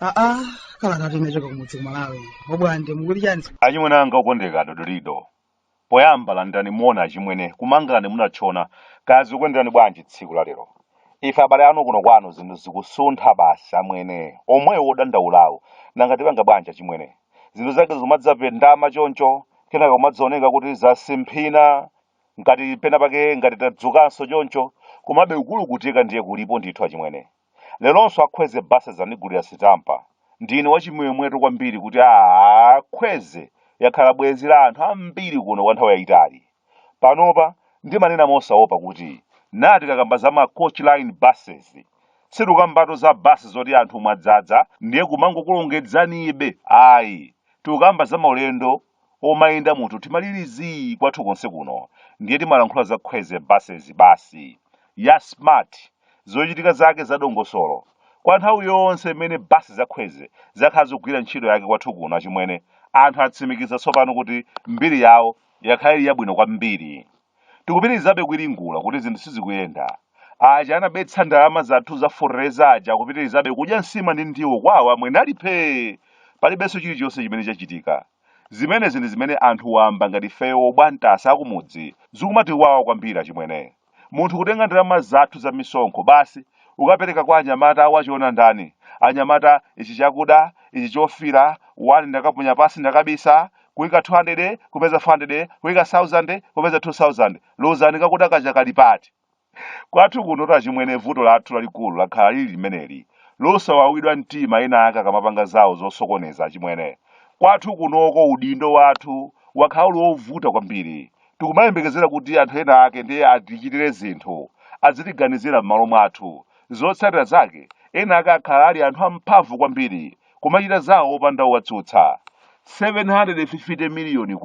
aa kalata tinachoka kumudzi kumalawi obwande mukuti chani achimwene anga okondeka dodolido Poyamba landirani moni achimwene, ku Mangalande munatchona, kaya zikuyenderani bwanji tsiku la lero? Ife abale anu kuno kwanu zinthu zikusuntha basi amwene, omwewo odandaulawo, nanga tipanga bwanji achimwene? Zinthu zake zikumadzapendama choncho, kenaka kumadzaoneka kuti zasimphina, ngati penapake ngati tadzukanso choncho, komabe kukulukutika ndiye kulipo ndithu achimwene. Leronso a Kwezy Buses andigulira sitampa. Ndine wachimwemwetu kwambiri kuti a Kwezy yakhala bwenzi la anthu ambiri kuno kwa nthawi yayitali. Panopa ndimanena mosaopa kuti naa tikakamba za ma Coach Line Buses, sitikukambatu za basi zoti anthu mwadzadza ndiye kumangokulongedzanibe ayi, tikukamba za maulendo omayenda munthu mtima uli zii kwathu konse kuno ndiye timalankhula za kwezy buses basi ya smart zochitika zake za dongosolo kwa nthawi yonse imene basi za kwezy zakhala zikugwira ntchito yake kwathu kuno achimwene anthu atsimikiza tsopano kuti mbiri yawo yakhala ili yabwino kwambiri Tikupitirizabe kuwiringula kuti zinthu sizikuyenda. Aja anabetsa ndalama zathu za fetereza aja akupitirizabe kudya nsima ndi ndiwo kwawo amwene ali phee! Palibenso chilichonse chimene chachitika. Zimenezi ndi zimene anthu wamba ngati ifeyo obwantasa akumudzi zikumatiwawa kwambiri achimwene. Munthu kutenga ndalama zathu za misonkho basi ukapereka kwa anyamata a wachiona ndani, anyamata ichi chakuda, ichi chofira, wani ndakaponya pansi ndakabisa, kuika 200 kupeza 400 kuika 1000 kupeza 2000 lozani kakuda kaja kali pati kwathu kunotu achimwene vuto lathu lalikulu lakhala lili limeneli losawawidwa mtima ena ake akamapanga zawo zosokoneza achimwene kwathu kunoko udindo wathu wakhala uli wovuta kwambiri tikumayembekezera kuti anthu ena ake ndiye atichitire zinthu azitiganizira m'malo mwathu zotsatira zake ena ake akhala ali anthu amphamvu kwambiri kumachita zawo opanda owatsutsa. K750 miliyoni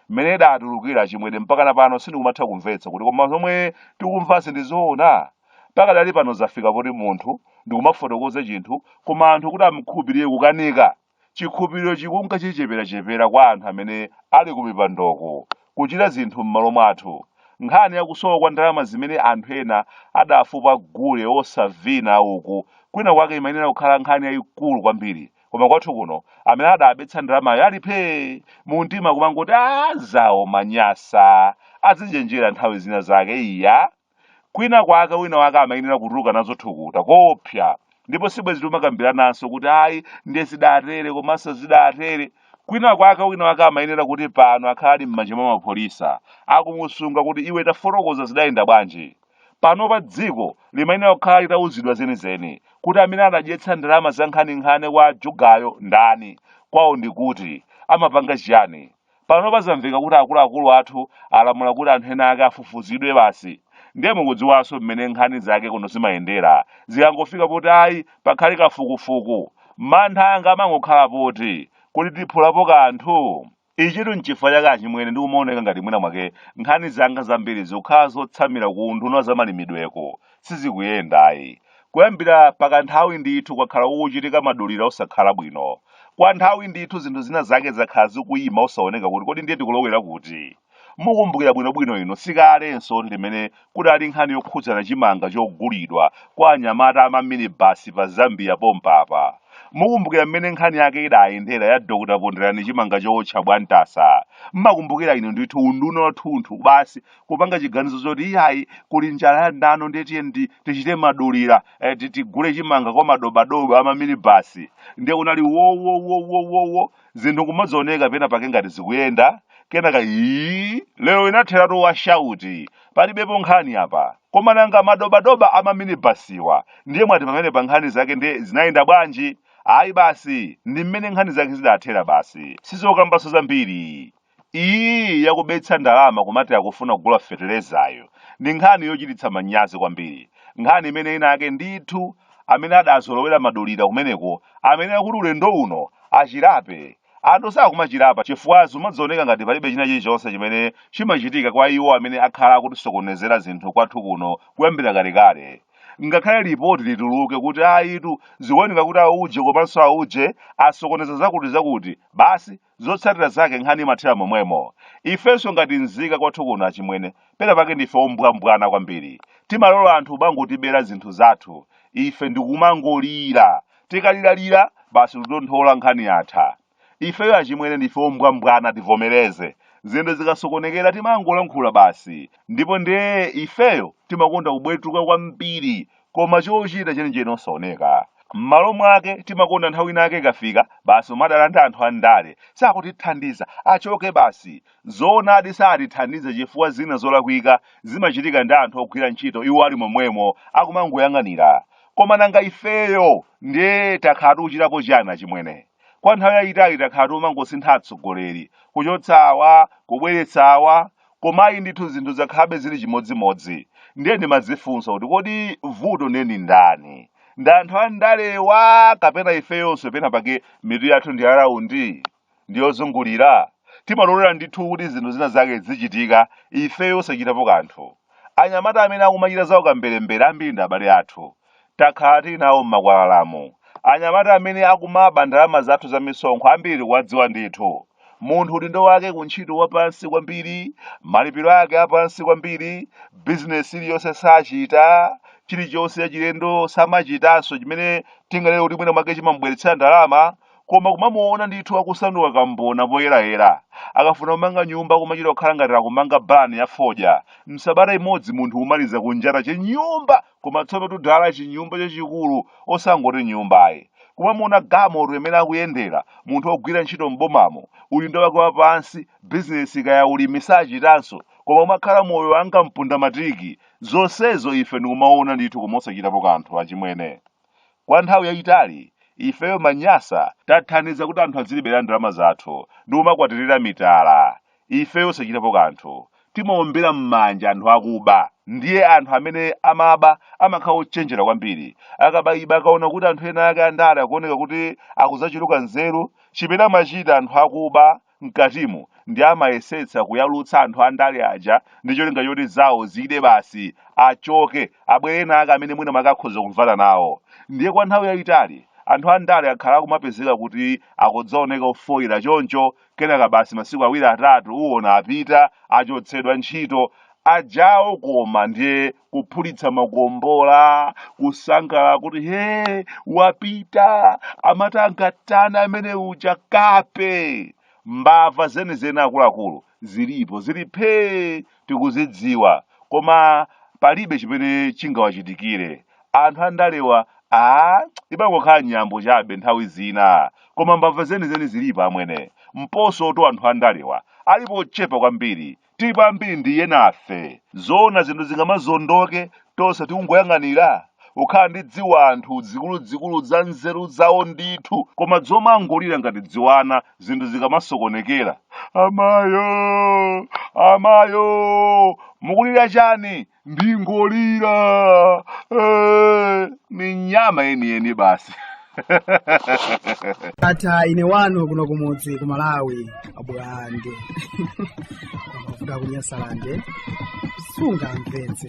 mmene idatulukira achimwene mpakana pano sindikumatha kumvetsa kuti koma zomwe tikumvazi ndi zoona? Pakadali pano zafika kuti munthu ndi kumafotokoza chinthu koma anthu kuti amukhulupirire kukanika. Chikhulupiriro chikunka chicheperachepera kwa anthu amene ali kumipandoko, kuchita zinthu m'malo mwathu. Nkhani ya kusowa kwa ndalama zimene anthu ena adafupa gule wosavina uku kwina kwake imayenera kukhala nkhani yaikulu kwambiri. Koma kwathu kuno, amene adabetsa ndalamayo ali phee, mumtima kumangoti aah zawo, manyasa, azichenjera nthawi zina zake, iyaa! kwina kwake wina wake amayenera kutuluka nazo thukuta koopsa ndipo sibwezi timakambirananso kuti ayi ndiye zidatere komanso zidatere kwina kwake wina wake amayenera kuti pano akhala ali m'manja mwa apolisi akumusunga kuti iwe tafotokoza zidayenda bwanji panopa dziko limayenera kukhala litauzidwa zenizeni kuti amene anadyetsa ndalama za nkhaninkhani kwa jugayo ndani kwawo ndi kuti amapanga chiyani Panopa zamveka kuti akuluakulu athu alamula kuti anthu ena ake afufuzidwe basi. Ndiye mukudziwanso mmene nkhani zake kuno zimayendera. Zikangofika poti ayi, pakhale kafukufuku, mantha anga amangokhala poti, kodi tiphulapo kanthu? Ichitu n'chifukwa chake achimwene ndikumaoneka ngati mwina mwake nkhani zanga zambiri zikukhala zotsamira ku unduna wa zamalimidweko. sizikuyenda ayi kuyambira pakanthawi ndithu kwakhala kukuchitika madulira osakhala bwino kwa nthawi ndithu zinthu zina zake zakhala zikuyima osaoneka kuti kodi ndiye tikulowera kuti mukumbukira bwinobwino inu sikalenso limene kudali nkhani yokhudzana chimanga chogulidwa kwa anyamata a maminibasi pa zambia pompapa mukumbukira mmene nkhani yake idayendera ya dr ponderani chimanga chowotcha bwantasa mumakumbukira inu ndithu unduna wathunthu basi kupanga chiganizo choti iyayi kuli njala yadano ndiye tiyeni tichite madulira eh, ti- tigule chimanga kwa madobadoba ama minibasi ndiye kunali wowowowowowo zinthu kumazioneka pena pake ngati zikuyenda kenaka ii lero inatheratu wa shauti palibepo nkhani apa koma nanga madobadoba ama minibasiwa ndiye mwati pamene pa nkhani zake ndiye zinayenda bwanji ayi basi ndi mmene nkhani zake zidathera basi sizokambanso zambiri Iyi ya kubetsa ndalama kumati akufuna kugula feterezayo ndi nkhani yochititsa manyazi kwambiri, nkhani imene ena ake ndithu amene adazolowera madulira kumeneko amayenera kuti ulendo uno achirape. Anthu sakumachirapa chifukwa zumadzioneka ngati palibe china chilichonse chimene chimachitika kwa iwo amene akhala akutisokonezera zinthu kwathu kuno kuyambira kalekale. Ngakhale lipoti lituluke kuti ayitu zikuoneka kuti auje komanso auje asokoneza zakutizakuti, basi zotsatira zake nkhani imathera momwemo ifenso ngati nzika kwathu kuno achimwene pena pake ndife ombwambwana kwambiri timalola anthu kumangotibera zinthu zathu ife ndikumangolira tikaliralira basi kutonthola nkhani yatha ifeyo achimwene ndife ombwambwana tivomereze zinthu zikasokonekera timangolankhula basi ndipo ndiye ifeyo timakonda kubwetuka kwambiri koma chochita chenicheni osaoneka m'malo mwake timakonda nthawi ina yake ikafika basi kumadandaula anthu andale sakutithandiza achoke basi zoonadi satithandiza chifukwa zina zolakwika zimachitika ndi anthu ogwira ntchito iwo ali momwemo akumangoyang'anira koma nanga ifeyo ndiye takhala tikuchitapo chiyani achimwene kwa nthawi yayitali takhala tomangosintha atsogoleri kuchotsa awa kubweretsa awa koma ayi ndithu zinthu zakhalabe zili chimodzimodzi ndiye ndimadzifunsa kuti kodi vuto ndiye ndi ndani ndi anthu andalewa kapena ifeyonso pena pake mitu yathu ndi araundi ndiyozungulira timalolera ndithu kuti zinthu zina zake zizichitika ifeyo osachitapo kanthu anyamata amene akumachita zaukamberembere ambiri ndi abale athu Takhala tili nawo m'makwalalamu anyamata amene akumaba ndalama zathu za misonkho ambiri kuwadziwa ndithu. Munthu udindo wake ku ntchito wa pansi kwambiri, malipiro ake a pansi kwambiri, bizinesi iliyonse sachita, chilichonse chachilendo samachitanso chimene tinganene kuti mwina mwake chimamubweretsera ndalama, koma kumamuona ndithu akusanduka kambona poyerayera. Akafuna kumanga nyumba kumachita kukhala ngati akumanga bani ya fodya. M'sabata imodzi munthu kumaliza kunjata chinyumba! koma tsono tudala chinyumba chachikulu osangoti nyumba ayi kumamuona galimoto imene akuyendera munthu wogwira ntchito m'bomamo udindo wake wapansi bizinesi kaya ulimi sachitanso koma kumakhala moyo wanga mpunda matiki zonsezo ife ndikumaona ndithu koma osachitapo kanthu achimwene kwa nthawi yayitali ifeyo Amanyasa tathandiza kuti anthu azitibera ndalama zathu ndi kumakwatirira mitala ifeyo osachitapo kanthu timaombera m'manja anthu akuba ndiye anthu amene amaba amakhala ochenjera kwambiri akaba iba akaona kuti anthu ena ake andale akuoneka kuti akudzachuluka nzeru chimene amachita anthu akuba mkatimo ndiye amayesetsa kuyalutsa anthu andale aja ndi cholinga choti zawo zide basi achoke abwere ena ake amene mwina mwake akhoza kumvana nawo ndiye kwa nthawi yayitali anthu andale akhala akumapezeka kuti akudzaoneka ofoyira choncho kenaka basi masiku awiri atatu uwona apita achotsedwa ntchito ajawo koma ndiye kuphulitsa makombola kusangalala kuti he wapita amati angatani amene uja kape mbava zenizeni akuluakulu zilipo zili phee tikuzidziwa koma palibe chimene chingawachitikire anthu andalewa ayi amangokhala nyambo chabe nthawi zina koma mbava zenizeni zilipo amwene mpaso to anthu andalewa alipo ochepa kwambiri tilipo ambiri ndiye nafe zoona zinthu zingamazondoke tonse tikungoyang'anira kukhala ndi dziwanthu dzikuludzikulu za nzeru zawo ndithu koma dzomangolira ngati dziwana zinthu zikamasokonekera amayo amayo mukulira chani ndikungolira Eh, ni nyama yeniyeni basi atha ine wanu kuno kumudzi ku malawi abwande amavuta kunyasalande sunga mpenzi